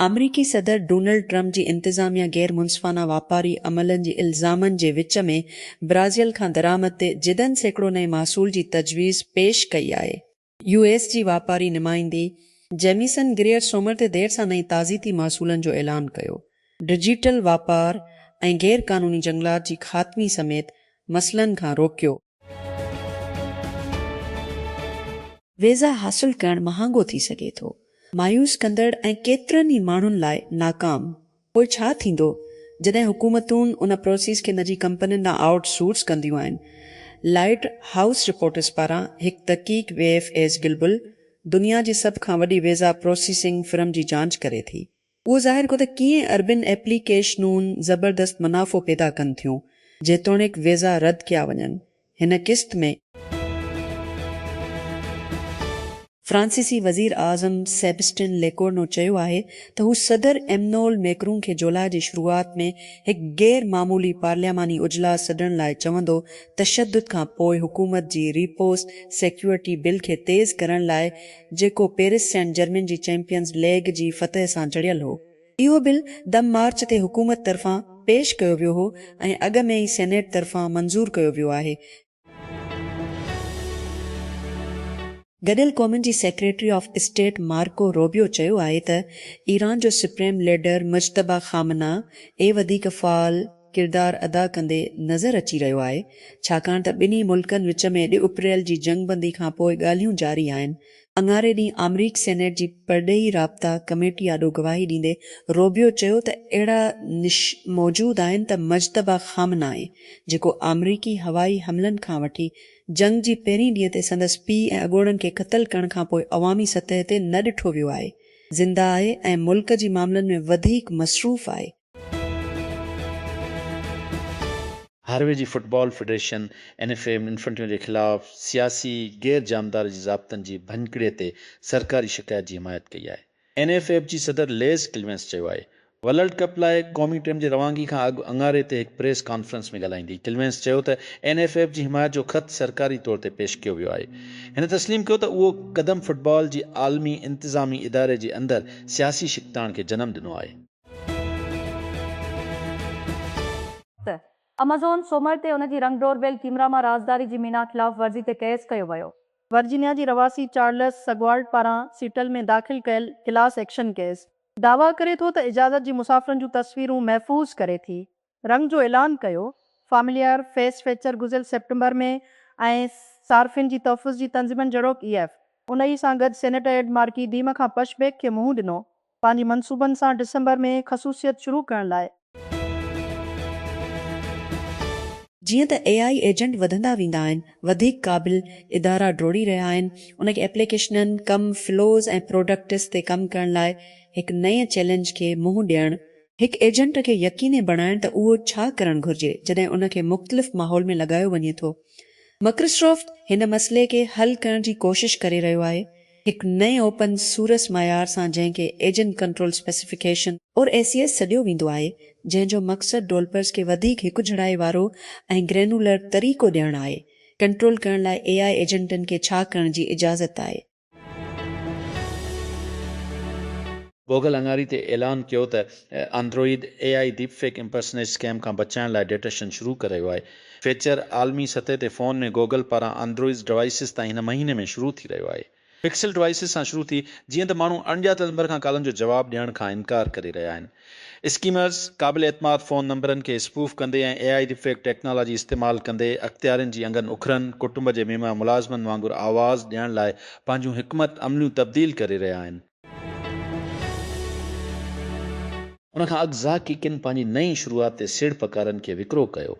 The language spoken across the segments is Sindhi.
آمريڪي صدر ڊونلڊ ٽرمپ جي انتظاميا غير منصفانه واپاري عملن جي الزامن جي وچ ۾ برازيل کان درآمد تي جدن سيڪڙو نئين محصول جي تجويز پيش ڪئي آهي. يو ايس جي واپاري نمائندي جيميسن گريئر سومر تي دير سان نئين تعزيتي محصولن جو اعلان ڪيو. ڊجيٽل واپار ۽ غير قانوني جهنگلات جي خاتمي سميت مسئلن کان روڪيو. ويزا حاصل ڪرڻ مهانگو ٿي سگهي ٿو، مايوس ڪندڙ ۽ ڪيترن ئي ماڻهن لاء ناڪام پوء ڇا ٿيندو جڏهن حڪومتون ان پروسيس کي نجي ڪمپنين ڏانهن آئوٽ سورس ڪنديون آهن. لائيٽ هائوس رپورٽرز پاران هڪ تحقيق وي ايف ايز گلبل دنيا جي سڀ کان وڏي ويزا پروسيسنگ فرم جي جانچ ڪري ٿي. اهو ظاهر ڪيو ته ڪيئن اربين ايپليڪيشنون زبردست منافعو پيدا ڪن ٿيون جيتوڻيڪ ويزا رد ڪيا وڃن هن قسط ۾. فرانسيسي وزير اعظم سيبسٽين ليڪورنو چيو آهي ته هو صدر ايمنول ميڪرون کي جولاء جي شروعات ۾ هڪ غير معمولي پارلياماني اجلاس سڏڻ لاء چوندو تشدد کان پوء حڪومت جي ريپوس سيڪيورٽي بل کي تيز ڪرڻ لاء جيڪو پيرس سينٽ جرمين جي چيمپيئنز ليگ جي فتح سان جڙيل هو اهو بل دم مارچ تي حڪومت طرفان پيش ڪيو ويو هو ۽ اڳ ۾ ئي سينيٽ طرفان منظور ڪيو ويو آهي. گڏيل قومن جي secretary of state Marco Rubio چيو آهي ته ايران جو supreme leader Mojtaba Khamenei وڌيڪ فعال، ڪردار ادا ڪندي نظر اچي رهيو آهي، ڇاڪاڻ ته ٻنهي ملڪن وچ ۾ ڏھ اپريل جي جنگ بندي کانپوء ڳالهيون جاري آهن، اڱاري ڏينهن آمريڪي سينيٽ جي پرڏيهي رابطا ڪميٽي آڏو گواهي ڏيندي روبيو چيو ته اهڙا نش موجود آهن ته مجتبيٰ خامنائي جيڪو آمريڪي هوائي حملن کان وٺي جنگ جي پهرين ڏينهن تي سندس پيء ۽ اڳوڻن کي قتل ڪرڻ کانپوء عوامي سطح تي نه ڏٺو ويو آهي زنده آهي ۽ ملڪ جي معاملن ۾ وڌيڪ مصروف آهي. هاروي جي football federation N F A Infantino جي خلاف سياسي غير جانبدار جي ضابطن جي ڀڃڪڙي تي سرڪاري شڪايت جي حمايت ڪئي آهي. اين ايف ايف جي صدر ليز ڪليمنس چيو آهي. ورلڊ ڪپ لاء قومي ٽيم جي روانگي کان اڳ اڱاري تي هڪ پريس ڪانفرنس ۾ ڳالهائيندي ڪليمنس چيو ته اين ايف ايف جي حمايت جو خط سرڪاري طور تي پيش ڪيو ويو آهي. هن تسليم ڪيو ته اهو قدم فٽبال جي عالمي انتظامي اداري جي اندر سياسي ڇڪتاڻ کي جنم ڏنو آهي. ته امازون سومر تي ان جي رنگ ڊور بيل ڪيمرا مان رازداري جي مينا خلاف ورزي تي ڪيس ڪيو ويو. ورجينيا جي رهواسي چارلس سگوالڊ پاران سيٽل ۾ داخل ڪيل ڪلاس ايڪشن ڪيس دعويٰ ڪري ٿو ته اجازت جي مسافرن جون تصويرون محفوظ ڪري ٿي رنگ جو اعلان ڪيو، فامليار، فيس فيچر گذريل سيپٽمبر ۾ ۽ صارفين جي تحفظ جي تنظيمن جھڙوڪ اي ايف ان ئي سان گڏ سينيٽر ايڊ مارڪي ڊيم کان پش بيڪ کي منهن ڏنو پنهنجي منصوبن سان ڊسمبر ۾ خصوصيت شروع ڪرڻ لاء. جيئن ته اي آئي ايجنٽ وڌندا ويندا آهن، وڌيڪ قابل ادارا ڊوڙي رهيا آهن، ان کي ايپليڪيشنن، ڪم فلوز ۽ پراڊڪٽس تي ڪم ڪرڻ لاء هڪ نئين چئلينج کي منهن ڏيڻ هڪ ايجنٽ کي يقيني بڻائڻ ته اهو ڇا ڪرڻ گهرجي جڏهن ان کي مختلف ماحول ۾ لڳايو وڃي ٿو. مڪرسرافٽ هن مسئلي کي حل ڪرڻ جي ڪوشش ڪري رهيو آهي هڪ نئين اوپن سورس معيار سان جنهن کي agent control specification, or ACS، سڏيو ويندو آهي جنهن جو مقصد ڊولپرز کي وڌيڪ هڪجھڙائي وارو ۽ گرينولر طريقو ڏيڻ آهي ڪنٽرول ڪرڻ لاء اي آء ايجنٽن کي ڇا ڪرڻ جي اجازت آهي. گوگل اڱاري تي اعلان ڪيو ته Android A I deep fake impersonate scam کان بچائڻ لاء ڊيٽيشن شروع ڪريو آهي. فيچر عالمي سطح تي فون ۾ گوگل پاران آنڊروئيز ڊوائيسز تائين هن مهيني ۾ شروع ٿي رهيو آهي. پڪسل ڊوائيسز سان شروع ٿي جيئن ته ماڻهو اڻڄاتل نمبر کان ڪالن جو جواب ڏيڻ کان انڪار ڪري رهيا آهن. اسڪيمرز قابل اعتماد فون نمبرن کي اسپوف ڪندي ۽ A I deepfake technology استعمال ڪندي اختيارين جي انگن اکرن، ڪٽنب جي ميمڻا ملازمن وانگر آواز ڏيڻ لاء پنهنجون حڪمت عمليون تبديل ڪري رهيا آهن. ان کان اڳ ذاڪي ڪن پنهنجي نئين شروعات تي سيڙپڪارن کي وڪرو ڪيو.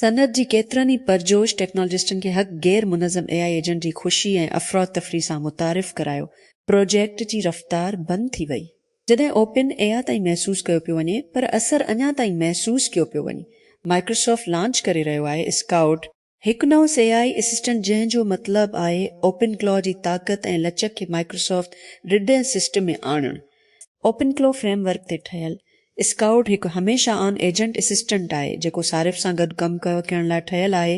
صنعت جي ڪيترن ئي پرجوش ٽيڪنالاجسٽن کي هڪ غير منظم اي آء ايجنٽ جي خوشي ۽ افراتفري سان متعارف ڪرايو. پروجيڪٽ جي رفتار بند ٿي وئي. جڏهن اوپن اي آء تائين محسوس ڪيو پيو وڃي پر اثر اڃا تائين محسوس ڪيو پيو وڃي. مائڪروسافٽ لانچ ڪري رهيو آهي اسڪائوٽ، هڪ نئون اي آء اسسٽنٽ جنهن جو مطلب آهي اوپن ڪلاء جي طاقت ۽ لچڪ کي مائڪروسافٽ رڊ ۽ سسٽم ۾ آڻڻ. اوپن ڪلاء فريم ورڪ تي ٺهيل اسڪائوٽ هڪ هميشه آن ايجنٽ اسسٽنٽ آهي، جيڪو صارف سان گڏ ڪم ڪرڻ لاء ٺهيل آهي،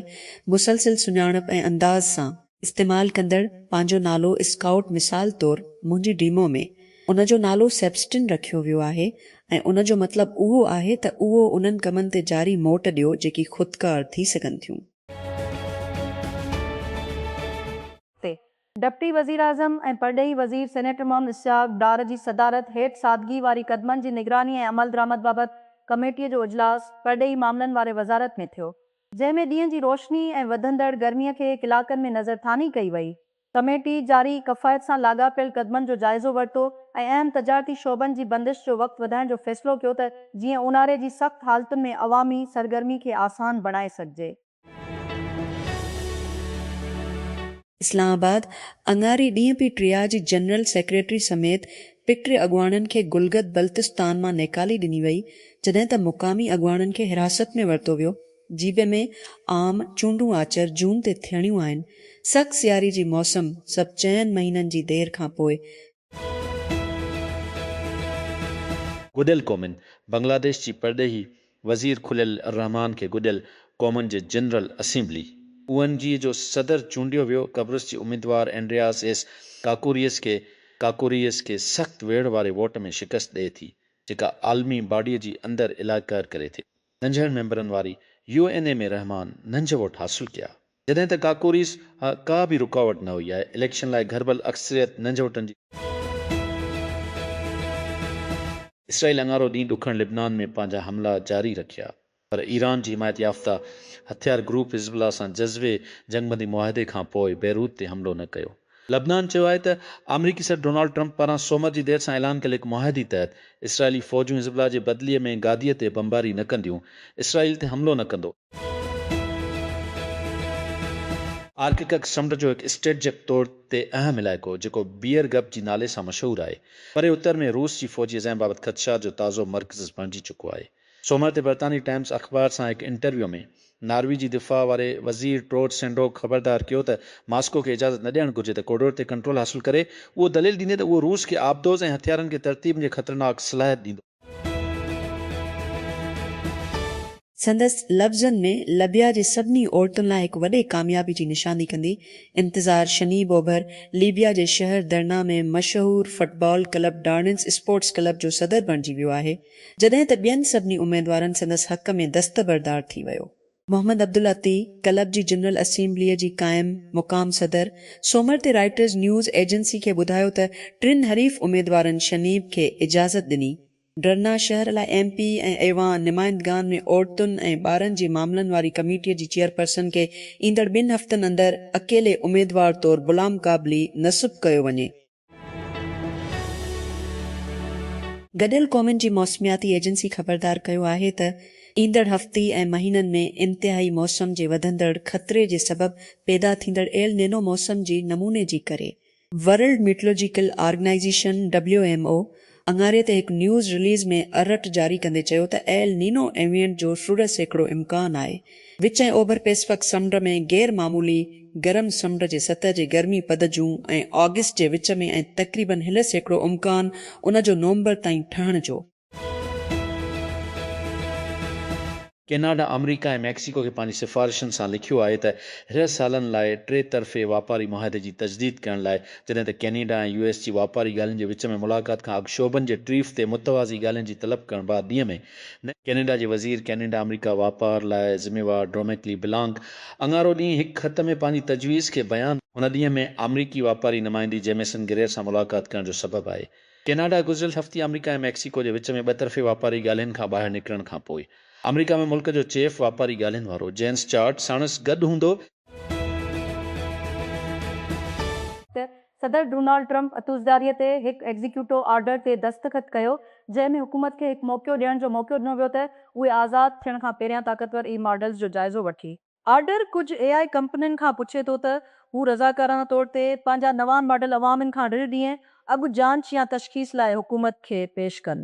مسلسل سڃاڻپ ۽ انداز سان. استعمال ڪندڙ پنهنجو نالو اسڪائوٽ مثال طور منهنجي ڊيمو ۾ ان جو نالو سيبسٽن رکيو ويو آهي ۽ ان جو مطلب اهو آهي ته اهو انهن ڪمن تي جاري موٽ ڏيو جيڪي خودڪار ٿي سگهن ٿيون. تي ڊپٽي وزيراعظم ۽ پرڏيهي وزير سينيٽر محمد اسحاق ڊار جي صدارت هيٺ سادگي واري قدمن جي نگراني ۽ عملدرآمد بابت ڪميٽي جو اجلاس پرڏيهي معاملن واري وزارت ۾ ٿيو، جنهن ۾ ڏينهن جي روشني ۽ وڌندڙ گرمي کي ڪلاڪن ۾ نظرثاني ڪئي وئي. ڪميٽي جاري ڪفايت سان لاڳاپيل قدمن جو جائزو ورتو ۽ اهم تجارتي شعبن جي بندش جو وقت وڌائڻ جو فيصلو ڪيو ته جيئن اونهاري جي سخت حالتن ۾ عوامي سرگرمي کي آسان بڻائي سگهجي. اسلام آباد، اڱاري ڏينهن پي ٽي آء جي جنرل سيڪريٽري سميت پيٽري اڳواڻن کي گلگت بلتستان مان نيڪالي ڏني وئي جڏهن ته مقامي اڳواڻن کي حراست ۾ ورتو ويو جي پي ۾ عام چونڊون آچر جون تي ٿيڻيون آهن سخت سياري جي موسم سبب چئن مهينن جي دير کانپوء گڏيل قومن، بنگلاديش جي پرڏيهي وزير خليل الرحمان کي گڏيل قومن جي general assembly, O N G, جو صدر چونڊيو ويو، قبرص جي اميدوار اينڊرياس ايس ڪاڪوريس کي Kakourias کي سخت ويڙهه واري ووٽ ۾ شڪست ڏئي ٿي، جيڪا عالمي باڊيء جي اندر الاء قهر ڪري ٿي. ننڍڙن ميمبرن واري يو اين اي ۾ رحمان ننجهه ووٽ حاصل ڪيا. جڏهن ته ڪاڪوريس ها ڪا به رڪاوٽ نه هئي آهي اليڪشن لاء گهربل اڪثريت ننجوٽن جي. اسرائيل اڱارو ڏينهن ڏکڻ لبنان ۾ پنهنجا حملا جاري رکيا پر ايران جي حمايت يافته هٿيار گروپ حزب الله سان جزوي جنگبندي معاهدي کانپوء بيروت تي حملو نه ڪيو. لبنان چيو آهي ته آمريڪي صدر ڊونالڊ ٽرمپ پاران سومر جي دير سان اعلان ڪيل هڪ معاهدي تحت اسرائيلي فوجون حزب الله جي بدلي ۾ گادي تي بمباري نه ڪنديون، اسرائيل تي حملو نه ڪندو. آرڪڪڪ سمنڊ جو هڪ اسٽريٽجڪ طور تي اهم علائقو جيڪو بيئر گپ جي نالي سان مشهور آهي، پري اتر ۾ روس جي فوجي عزائم بابت خدشات جو تازو مرڪزز بڻجي چڪو آهي. سومر تي برطانوي ٽائمز اخبار سان هڪ انٽرويو ۾ ناروي جي دفاع واري وزير ٽروڊ سينڊوڪ خبردار ڪيو ته ماسڪو کي اجازت نه ڏيڻ گهرجي ته ڪورڊور تي ڪنٽرول حاصل ڪري، اهو دليل ڏيندي ته اهو روس کي آبدوز ۽ هٿيارن کي ترتيب جي خطرناڪ صلاحيت ڏيندو. سندس لفظن ۾ لبيا جي سڀني عورتن لاء هڪ وڏي ڪاميابي جي نشاندهي ڪندي انتظار شنيب اوڀر ليبيا جي شهر درنا ۾ مشهور football club Darnes sports club جو صدر بڻجي ويو آهي جڏهن ته ٻين سڀني اميدوارن سندس حق ۾ دستبردار ٿي ويو. محمد عبدالعطي ڪلب جي جنرل اسيمبليء جي قائم مقام صدر سومر تي رائٽرز نيوز ايجنسي کي ٻڌايو ته ٽن حريف اميدوارن شنيب کي اجازت ڏني ڊرنا شهر لاء ايم پي ۽ ايوان نمائندگان ۾ عورتن ۽ ٻارن جي معاملن واري ڪميٽيء جي چيئرپرسن کي ايندڙ ٻن هفتن اندر اڪيلي اميدوار طور بلامقابلي نصب ڪيو وڃي. گڏيل قومن جي موسمياتي ايجنسي خبردار ڪيو آهي ته ايندڙ هفتي ۽ مهينن ۾ انتهائي موسم جي وڌندڙ خطري جي سبب پيدا ٿيندڙ ايل نينو موسم جي نموني جي ڪري world meteorological organization, W M O, اڱاري تي هڪ نيوز رليز ۾ ارٽ جاري ڪندي چيو ته ايل نينو ايونٽ جو سڙهه سيڪڙو امڪان آهي. وچ ۽ اوڀر پئسفڪ سمنڊ ۾ غير معمولي گرم سمنڊ جي سطح جي گرمي پد جون ۽ آگسٽ جي وچ ۾ ۽ تقريبن هلهه سيڪڙو امڪان ان جو نومبر تائين ٺهڻ جو. ڪيناڊا آمريڪا ۽ ميڪسيڪو کي پنهنجي سفارشن سان لکيو آهي ته رهه سالن لاء ٽي طرفي واپاري معاهدي جي تجديد ڪرڻ لاء جڏهن ته ڪينيڊا ۽ يو ايس جي واپاري ڳالهين جي وچ ۾ ملاقات کان اڳ شعبن جي ٽريف تي متوازي ڳالهين جي طلب ڪرڻ بعد ڏينهن ۾ ڪينيڊا جي وزير ڪينيڊا آمريڪا واپار لاء ذميوار ڊروميڪلي بلانڪ اڱارو ڏينهن هڪ خط ۾ پنهنجي تجويز کي بيان هن ڏينهن ۾ آمريڪي واپاري نمائندي جيميسن گرير سان ملاقات ڪرڻ جو سبب آهي. ڪيناڊا گذريل هفتي آمريڪا ۽ ميڪسيڪو جي وچ ۾ ٻه طرفي واپاري ڳالهين کان ٻاهر نڪرڻ کان پوء آمريڪا ۾ ملڪ جو چيف واپاري ڳالهين وارو جينس چارٽ ساڻس گڏ هوندو. ته صدر ڊونالڊ ٽرمپ اتوزداريء تي هڪ ايگزيڪيوٽو آرڊر تي دستخط ڪيو، جنهن ۾ حڪومت کي هڪ موقعو ڏيڻ جو موقعو ڏنو ويو ته اهي آزاد ٿيڻ کان پهريان طاقتور اي ماڊلز جو جائزو وٺي. آرڊر ڪجهه اي آء ڪمپنين کان پڇي ٿو ته هو رضاڪارانه طور تي پنهنجا نوان ماڊل عوامن کان ڙڙ ڏينهن اڳ جانچ يا تشخيص لاء حڪومت کي پيش ڪن.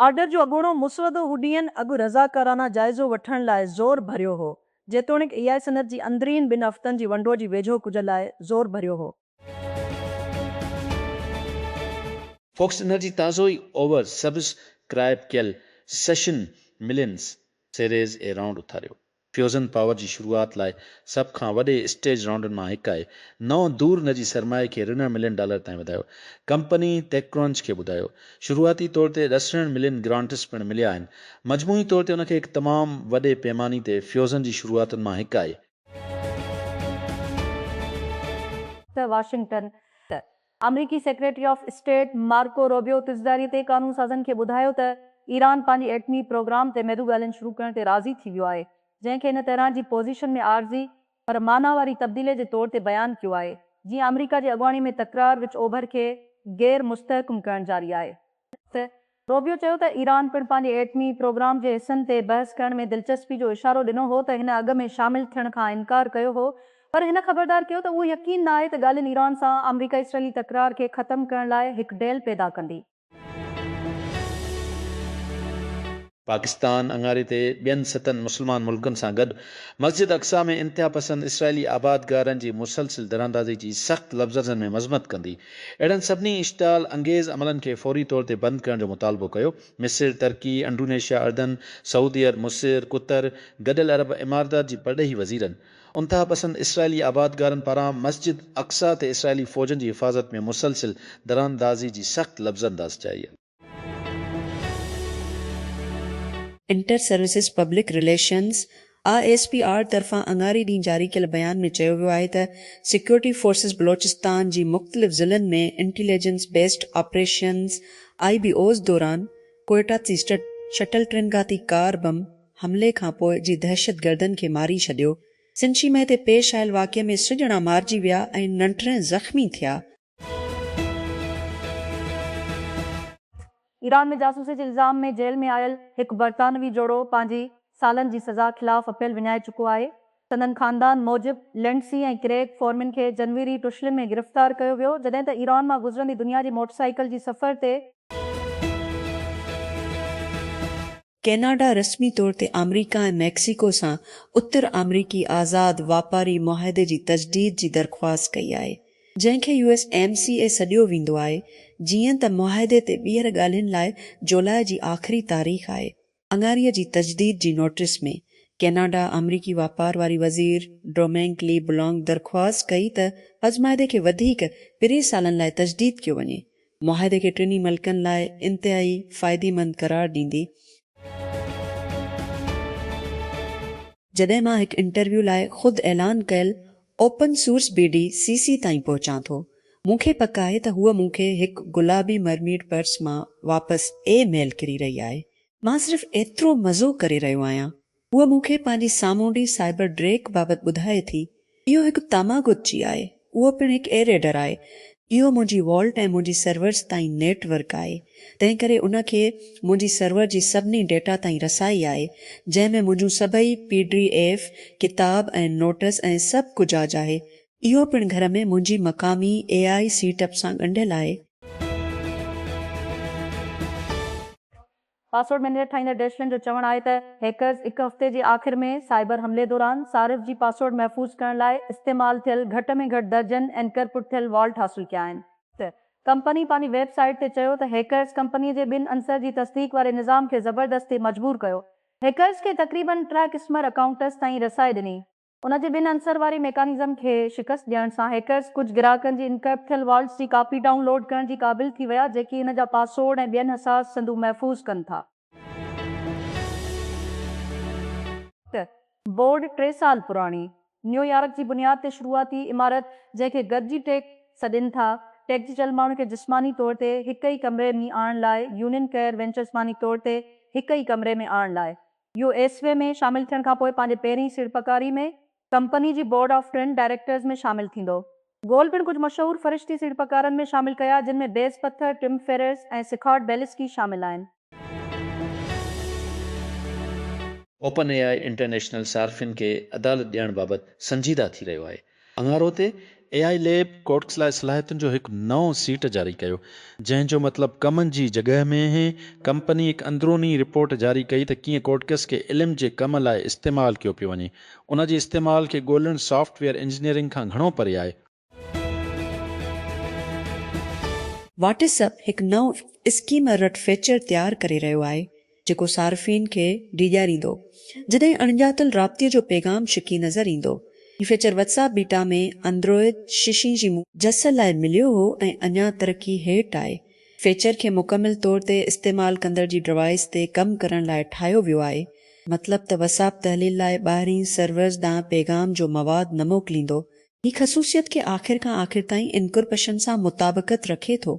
آرڊر جو اڳوڻو مسودو هو ڏينهن اڳ رضاڪارانه جائزو وٺڻ لاء زور ڀريو هو، جيتوڻيڪ اي آء صنعت جي اندرين ٻن هفتن جي ونڊو جي ويجهو ڪجهه لاء زور ڀريو هو. فوڪس انرجي تازو ئي اوور سبسڪرائب ڪيل session millions series A round اٿاريو. فيوزن پاور جي شروعات لاء سڀ کان وڏي اسٽيج رائونڊن مان هڪ آهي. نئون دور نجي سرمائي کي رنڙ ملين ڊالر تائين وڌايو. ڪمپني ٽيڪ ڪرنچ کي ٻڌايو. شروعاتي طور تي ڏسرڻ ملين گرانٽس پڻ مليا آهن. مجموعي طور تي ان کي هڪ تمام وڏي پيماني تي فيوزن جي شروعاتن مان هڪ آهي. ته واشنگٽن ته آمريڪي secretary of state Marco Rubio تجداري تي قانون سازن کي ٻڌايو ته ايران پنهنجي ايٽمي پروگرام تي ميدو ڳالهين شروع ڪرڻ تي راضي ٿي ويو آهي جنهن کي هن تهران جي پوزيشن ۾ عارضي پر معنيٰ واري تبديلي جي طور تي بيان ڪيو آهي جيئن آمريڪا جي اڳواڻي ۾ تڪرار وچ اوڀر کي غير مستحڪم ڪرڻ جاري آهي. ته روبيو چيو ته ايران پڻ پنهنجي ايٽمي پروگرام جي حصن تي بحث ڪرڻ ۾ دلچسپي جو اشارو ڏنو هو ته هن اڳ ۾ شامل ٿيڻ کان انڪار ڪيو هو پر هن خبردار ڪيو ته اهو يقين ناهي ته ڳالهين ايران سان آمريڪا اسرائيلي تڪرار کي ختم ڪرڻ لاء هڪ ڊيل پيدا ڪندي. پاڪستان اڱاري تي ٻين ستن مسلمان ملڪن سان گڏ مسجد اقصيٰ ۾ انتهاپسند اسرائيلي آبادگارن جي مسلسل دراندازي جي سخت لفظرزن ۾ مذمت ڪندي اهڙن سڀني اشتعال انگيز عملن کي فوري طور تي بند ڪرڻ جو مطالبو ڪيو. مصر، ترڪي، انڊونيشيا، اردن، سعودي عرب، مصر، قطر، گڏيل عرب امارتات جي پرڏيهي وزيرن انتهاپسند اسرائيلي آبادگارن پاران مسجد اقصيٰ تي اسرائيلي فوجن جي حفاظت ۾ مسلسل دراندازي جي سخت لفظرنداز چئي. Inter services public relations, I S P R, طرفان اڱاري ڏينهن جاري ڪيل بيان ۾ چيو ويو آهي ته سيڪيورٽي فورسز بلوچستان جي مختلف ضلعن ۾ intelligence based operations, I B Os, دوران ڪوئيٽا تي شٽل ٽرين گهاتي ڪار بم حملي کانپوء جي دهشتگردن کي ماري ڇڏيو. سنشي مئي تي پيش آيل واقعي ۾ سڄڻا مارجي ويا ۽ ننٽرين زخمي ٿيا. ايران ۾ جاسوسي جي الزام ۾ جيل ۾ آيل هڪ برطانوي جوڙو پنهنجي سالن جي سزا خلاف اپيل وڃائي چڪو آهي. سندن خاندان موجب لنڊسي ۽ ڪريگ فورمن کي جنوري ٽشلن ۾ گرفتار ڪيو ويو جڏهن ته ايران مان گذرندي دنيا جي موٽرسائيڪل جي سفر تي ڪئناڊا رسمي طور تي آمريڪا ۽ ميڪسيڪو سان اتر آمريڪي آزاد واپاري معاهدي جي تجديد جي درخواست ڪئي آهي، جنهن کي U S M C A سڏيو ويندو آهي، جيئن ته معاهدي تي ٻيهر ڳالهين لاء جولاء جي آخري تاريخ آهي. اڱاري جي تجديد جي نوٽيس ۾ ڪئناڊا آمريڪي واپار واري وزير ڊومينڪ لي بلانڪ درخواست ڪئي ته پزمعاهدي کي وڌيڪ پرين سالن لاء تجديد ڪيو وڃي، معاهدي کي ٽنهي ملڪن لاء انتهائي فائديمند قرار ڏيندي. جڏهن مان هڪ انٽرويو لاء خود اعلان ڪيل open source B D C C تائين پهچان ٿو، مون کي پڪ آهي ته هوء مون کي هڪ گلابي مرميڊ پرس مان واپس اي ميل ڪري رهي آهي. مان صرف ايترو مزو ڪري رهيو آهيان هوء مون کي پنهنجي سامونڊي سائبر ڊريڪ بابت ٻڌائي ٿي. اهو هڪ تاماگوتچي آهي. اهو پڻ هڪ ايريڊر آهي. اهو منهنجي والٽ ۽ منهنجي سرورز تائين نيٽ ورڪ آهي. تنهن ڪري ان کي منهنجي سرور جي سڀني ڊيٽا تائين رسائي آهي، جنهن ۾ منهنجون سڀئي پي ڊي ايف، ڪتاب ۽ نوٽس ۽ سڀ ڪجاج آهي. اهو پڻ گهر ۾ منهنجي مقامي اي آء سيٽ اپ سان ڳنڍيل آهي. پاسورڊ مينيجر ٺاهيندڙ ڊيشلن جو چوڻ آهي ته هيڪرز هڪ هفتي جي آخر ۾ سائبر حملي دوران صارف جي پاسورڊ محفوظ ڪرڻ لاء استعمال ٿيل گهٽ ۾ گهٽ درجن اينڪرپٽ ٿيل والٽ حاصل ڪيا آهن. ته ڪمپني پنهنجي ويب سائيٽ تي چيو ته هيڪرز ڪمپني جي ٻن عنصر جي تصديق واري نظام کي زبردستي مجبور ڪيو. هيڪرز کي تقريبن ٽه قسمر اڪائونٽس تائين رسائي ڏني. ان جي ٻن عنصر واري ميڪانزم کي شڪست ڏيڻ سان هيڪرز ڪجهه گراهڪن جي انڪرپٽ ٿيل والٽس جي ڪاپي ڊائون لوڊ ڪرڻ جي قابل ٿي ويا جيڪي ان جا پاسورڊ ۽ ٻين حساس سندون محفوظ ڪن ٿا. ٽه بورڊ ٽي سال پراڻي نيو يارڪ جي بنياد تي شروعاتي عمارت جنهن کي گڏجي ٽيڪ سڏين ٿا ٽيڪ جي چل ماڻهن کي جسماني طور تي هڪ ئي ڪمري ۾ آڻڻ لاء يونين ڪيئر وينچرز ماني طور تي هڪ ئي ڪمري ۾ آڻڻ لاء يو ايس وي ۾ شامل ٿيڻ کانپوء پنهنجي پهرين سيڙپڪاري ۾ ڪمپني جي بورڊ آف ٽرين ڊائريڪٽرز ۾ شامل ٿيندو. گول پڻ ڪجهه مشهور فرشتي سيڙپڪارن ۾ شامل ڪيا جن ۾ بيز پٿر، ٽم فيررس ۽ سکارڊ بيلسڪي شامل آهن. اوپن اي آء انٽرنيشنل صارفين کي عدالت ڏيڻ بابت سنجيده ٿي رهيو آهي. اڱارو تي اي آء ليب ڪورٽس لاء صلاحيتن جو هڪ نئون سيٽ جاري ڪيو جنهن جو مطلب ڪمن جي جڳهه ۾ هي، ڪمپني هڪ اندروني رپورٽ جاري ڪئي ته ڪيئن ڪورٽڪس کي علم جي ڪم لاء استعمال ڪيو پيو وڃي، ان جي استعمال کي ڳولڻ سافٽ ويئر انجنيئرنگ کان گهڻو پري آهي. واٽس اپ هڪ نئون اسڪيمر رٽ فيچر تيار ڪري رهيو آهي جيڪو صارفين کي ڊيڄاريندو جڏهن اڻڄاتل رابطي جو پيغام ڇڪي نظر ايندو. هي feature WhatsApp beta ۾ Android ششين جي مون. جس لاء مليو هو ۽ اڃا ترقي هيٺ آهي. فيچر کي مڪمل طور تي استعمال ڪندڙ جي ڊوائيس تي ڪم ڪرڻ لاء ٺاهيو ويو آهي. مطلب ته وٽس اپ تحليل لاء ٻاهرين سرورز ڏانهن پيغام جو مواد نه موڪليندو. هي خصوصيت کي آخر کان آخر تائين انڪرپشن سان مطابقت رکي ٿو.